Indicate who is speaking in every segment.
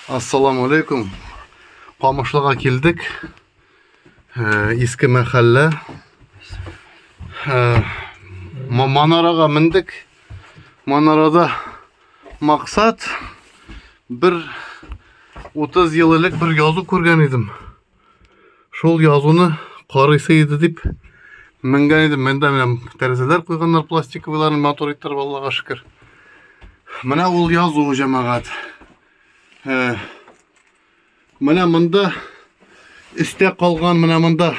Speaker 1: Ассаламу алейкум. Камышлыга килдек. Э, иске мәхәллә. Э, манарага мендек. Манарада максат бер 30 ел элек бер язу күргән идем. Шул язуны карыйсы иде дип менгән идем. Монда менә тәрәзәләр куйганнар пластиковыйларын матур иттереп Аллага шөкер. Менә ул язу җәмәгать. Ә, менә монда өстә калган менә монда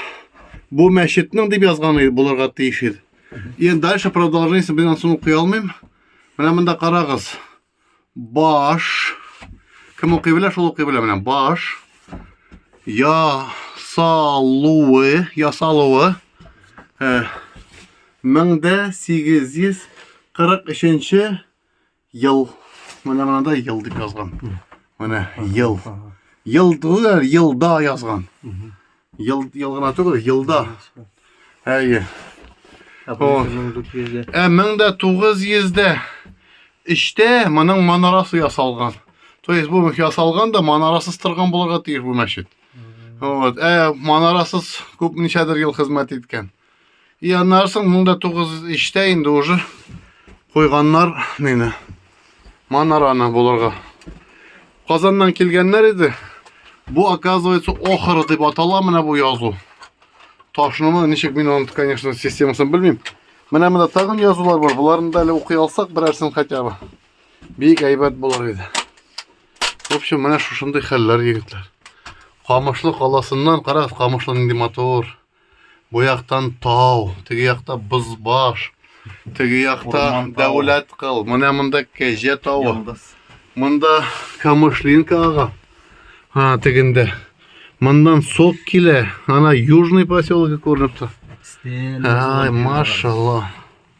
Speaker 1: бу мәчетнең дип язган иде булырга тиеш иде. Енді дальше продолжениесін мен соны оқи алмаймын. Менә мында карагыз. Баш. Кем укый белә, шул укый белә менә. Баш. Ясалуы. Ясалуы. Э, 1843 ел. Менә монда ел дип язган. Менә ел. Ел, елда язган. Ел, ел гына түгел, елда. Әйе. Ә бу Ой. 1900 Ә 1903-тә эчтә моның манарасы ясалган. То есть бу ясалган да манарасыз торган булырга тиеш бу мәчет. Вот. Ә манарасыз күп ничәдер ел хезмәт иткән. И аннан соң монда тугыз иштә инде уже куйганнар нени манараны булырга. Казаннан килгәннәр иде. Бу оказывается охра дип атала менә бу язу. Ташнымы ничек мин аны конечно системасын белмим. Менә монда тагын язулар бар. Буларны да әле укый алсак берәрсен хотя бы. Бик әйбәт булыр иде. В общем, менә шушындый хәлләр егетләр. Камышлы каласыннан карагыз, камышлы нинди матур. Бу яктан тау, теге якта бозбаш, теге якта дәүләт кыл. Менә монда кәҗә тавы. Монда камышлинка ага. Ха, тегендә. Мондан сок килә. Ана южный поселогы күренеп тора. Ай, машалла.